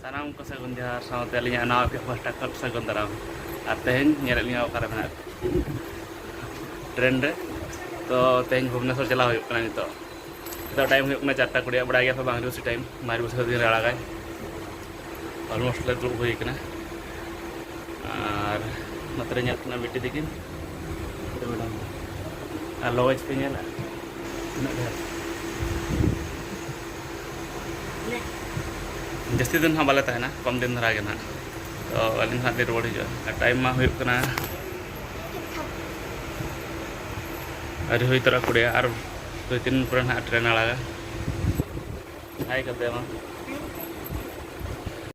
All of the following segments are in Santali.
ᱥᱟᱱᱟᱢ ᱠᱚ ᱥᱟᱹᱜᱩᱱ ᱡᱚᱦᱟᱨ ᱥᱟᱶᱛᱮ ᱟᱹᱞᱤᱧᱟᱜ ᱱᱟᱣᱟ ᱯᱮ ᱯᱟᱥᱴᱟ ᱠᱷᱚᱱ ᱥᱟᱹᱜᱩᱱ ᱫᱟᱨᱟᱢ ᱟᱨ ᱛᱮᱦᱮᱧ ᱧᱮᱞᱮᱫ ᱞᱤᱧᱟ ᱚᱠᱟᱨᱮ ᱢᱮᱱᱟᱜ ᱴᱨᱮᱱ ᱨᱮ ᱛᱚ ᱛᱮᱦᱮᱧ ᱵᱷᱩᱵᱽᱱᱮᱥᱚᱨ ᱪᱟᱞᱟᱣ ᱦᱩᱭᱩᱜ ᱠᱟᱱᱟ ᱱᱤᱛᱚᱜ ᱱᱤᱛᱚᱜ ᱴᱟᱭᱤᱢ ᱦᱩᱭᱩᱜ ᱠᱟᱱᱟ ᱪᱟᱨᱴᱟ ᱠᱩᱲᱤᱭᱟᱜ ᱵᱟᱲᱟᱭ ᱜᱮᱭᱟ ᱯᱮ ᱵᱟᱝ ᱨᱤᱥᱤ ᱴᱟᱭᱤᱢ ᱢᱟᱨ ᱵᱚᱪᱷᱚᱨ ᱫᱤᱱ ᱨᱮ ᱟᱲᱟᱜᱟᱭ ᱚᱞᱢᱳᱥᱴ ᱞᱮ ᱫᱩᱲᱩᱵ ᱦᱩᱭ ᱠᱟᱱᱟ ᱟᱨ ᱱᱚᱛᱮ ᱨᱮ ᱧᱮᱞ ᱠᱟᱱᱟ ᱵᱤᱴᱤ ᱛᱤᱠᱤᱱ ᱢᱮᱰᱟᱢ ᱟᱨ ᱞᱚᱡᱽ ᱯᱮ ᱧᱮᱞᱟ ᱛᱤᱱᱟᱹᱜ ᱰᱷᱮᱨ ᱡᱟᱹᱥᱛᱤ ᱫᱤᱱ ᱦᱟᱸᱜ ᱵᱟᱞᱮ ᱛᱟᱦᱮᱱᱟ ᱠᱚᱢ ᱫᱤᱱ ᱫᱷᱟᱨᱟ ᱜᱮ ᱱᱟᱦᱟᱜ ᱛᱚ ᱟᱹᱞᱤᱧ ᱦᱟᱸᱜ ᱞᱤᱧ ᱨᱩᱣᱟᱹᱲ ᱦᱤᱡᱩᱜᱼᱟ ᱟᱨ ᱴᱟᱭᱤᱢ ᱢᱟ ᱦᱩᱭᱩᱜ ᱠᱟᱱᱟ ᱟᱹᱣᱨᱤ ᱦᱩᱭ ᱛᱚᱨᱟ ᱠᱩᱲᱤᱭᱟ ᱟᱨ ᱫᱩᱭ ᱛᱤᱱ ᱯᱚᱨᱮ ᱱᱟᱦᱟᱜ ᱴᱨᱮᱱ ᱟᱲᱟᱜᱟ ᱦᱟᱭ ᱠᱟᱛᱮ ᱢᱟ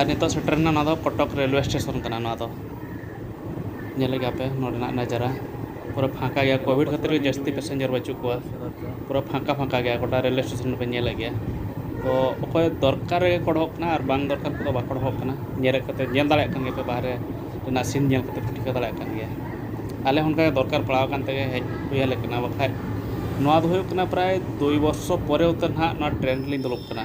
ᱟᱨ ᱱᱤᱛᱚᱜ ᱥᱮᱴᱮᱨ ᱮᱱᱟ ᱱᱚᱣᱟ ᱫᱚ ᱠᱚᱴᱚᱠ ᱨᱮᱞᱣᱮ ᱥᱴᱮᱥᱚᱱ ᱠᱟᱱᱟ ᱱᱚᱣᱟ ᱫᱚ ᱧᱮᱞᱮᱫ ᱜᱮᱭᱟ ᱯᱮ ᱱᱚᱰᱮᱱᱟᱜ ᱱᱟᱡᱟᱨᱟ ᱯᱩᱨᱟᱹ ᱯᱷᱟᱸᱠᱟ ᱜᱮᱭᱟ ᱠᱳᱵᱷᱤᱰ ᱠᱷᱟᱹᱛᱤᱨ ᱜᱮ ᱡᱟᱹᱥᱛᱤ ᱯᱮᱥᱮᱱᱡᱟᱨ ᱵᱟᱹᱪᱩᱜ ᱠᱚᱣᱟ ᱯᱩᱨᱟᱹ ᱯᱷᱟᱸᱠᱟ ᱯᱷᱟᱸᱠᱟ ᱜᱮᱭᱟ ᱜᱚᱴᱟ ᱨᱮᱹᱞ ᱮᱥᱴᱮᱥᱚᱱ ᱨᱮᱵᱮᱱ ᱧᱮᱞᱮᱫ ᱜᱮᱭᱟ ᱛᱚ ᱚᱠᱚᱭ ᱫᱚᱨᱠᱟᱨ ᱨᱮᱜᱮ ᱠᱚ ᱚᱰᱚᱠᱚᱜ ᱠᱟᱱᱟ ᱟᱨ ᱵᱟᱝ ᱫᱚᱨᱠᱟᱨ ᱠᱚᱫᱚ ᱵᱟᱠᱚ ᱚᱰᱚᱠᱚᱜ ᱠᱟᱱᱟ ᱧᱮᱞᱮᱫ ᱠᱚᱛᱮ ᱧᱮᱞ ᱫᱟᱲᱮᱭᱟᱜ ᱠᱟᱱ ᱜᱮᱭᱟᱯᱮ ᱵᱟᱦᱨᱮ ᱨᱮᱱᱟᱜ ᱥᱤᱱ ᱧᱮᱞ ᱠᱟᱛᱮᱫ ᱯᱮ ᱴᱷᱤᱠᱟᱹ ᱫᱟᱲᱮᱭᱟᱜ ᱠᱟᱱ ᱜᱮᱭᱟ ᱟᱞᱮ ᱦᱚᱸ ᱚᱱᱠᱟᱜᱮ ᱫᱚᱨᱠᱟᱨ ᱯᱟᱲᱟᱣ ᱟᱠᱟᱱ ᱛᱮᱜᱮ ᱦᱮᱡ ᱦᱩᱭ ᱟᱞᱮ ᱠᱟᱱᱟ ᱵᱟᱠᱷᱟᱡ ᱱᱚᱣᱟ ᱫᱚ ᱦᱩᱭᱩᱜ ᱠᱟᱱᱟ ᱯᱨᱟᱭ ᱫᱩᱭ ᱵᱚᱨᱥᱚ ᱯᱚᱨᱮ ᱩᱛᱟᱹᱨ ᱱᱟᱦᱟᱜ ᱱᱚᱣᱟ ᱴᱨᱮᱹᱱ ᱨᱮᱞᱤᱧ ᱫᱩᱲᱩᱵ ᱠᱟᱱᱟ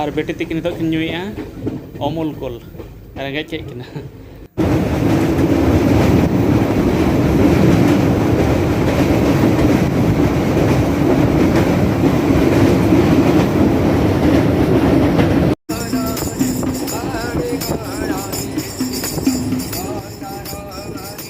ᱟᱨ ᱵᱮᱴᱤ ᱛᱤᱠᱤᱱ ᱱᱤᱛᱚᱜ ᱠᱤᱱ ᱧᱩᱭᱮᱜᱼᱟ ᱚᱢᱩᱞ ᱠᱚᱞ ᱨᱮᱸᱜᱮᱡ ᱠᱮᱫ ᱠᱤᱱᱟ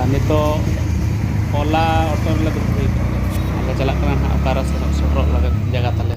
ᱟᱨ ᱱᱤᱛᱚᱜ ᱚᱞᱟ ᱚᱴᱳ ᱨᱮᱞᱮ ᱫᱩᱲᱩᱵ ᱦᱩᱭ ᱠᱟᱱᱟ ᱟᱞᱮ ᱪᱟᱞᱟᱜ ᱠᱟᱱᱟ ᱱᱟᱦᱟᱜ ᱚᱠᱟᱨᱮ ᱥᱮᱱᱚᱜ ᱥᱮᱴᱮᱨᱚᱜ ᱞᱟᱹᱜᱤᱫ ᱡᱟᱭᱜᱟ ᱛᱟᱞᱮ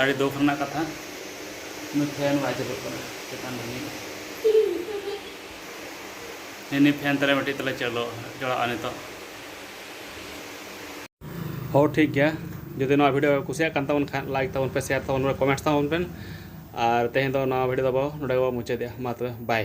ᱟᱹᱰᱤ ᱫᱩᱠ ᱨᱮᱱᱟᱜ ᱠᱟᱛᱷᱟ ᱱᱩᱭ ᱯᱷᱮᱱ ᱵᱟᱭ ᱪᱟᱹᱞᱩᱜ ᱠᱟᱱᱟ ᱪᱮᱛᱟᱱ ᱨᱤᱱᱤᱡ ᱱᱤᱱᱤ ᱯᱷᱮᱱ ᱛᱟᱞᱮ ᱢᱤᱫᱴᱤᱡ ᱛᱟᱞᱮ ᱪᱟᱹᱞᱩ ᱡᱚᱲᱟᱜᱼᱟ ᱱᱤᱛᱚᱜ ᱦᱚ ᱴᱷᱤᱠ ᱜᱮᱭᱟ ᱡᱩᱫᱤ ᱱᱚᱣᱟ ᱵᱷᱤᱰᱤᱭᱳ ᱠᱩᱥᱤᱭᱟᱜ ᱠᱟᱱ ᱛᱟᱵᱚᱱ ᱠᱷᱟᱱ ᱞᱟᱭᱤᱠ ᱛᱟᱵᱚᱱ ᱯᱮ ᱥᱮᱭᱟᱨ ᱛᱟᱵᱚᱱ ᱯᱮ ᱠᱚᱢᱮᱱᱴ ᱛᱟᱵᱚᱱ ᱯᱮ ᱟᱨ ᱛᱮᱦᱮᱧ ᱫᱚ ᱱᱚᱣᱟ ᱵᱷᱤᱰᱤᱭᱳ ᱫᱚ ᱱᱚᱰᱮ ᱜᱮᱵᱚᱱ ᱢᱩᱪᱟᱹᱫᱮᱜᱼᱟ ᱢᱟ ᱛᱚᱵᱮ ᱵᱟᱭ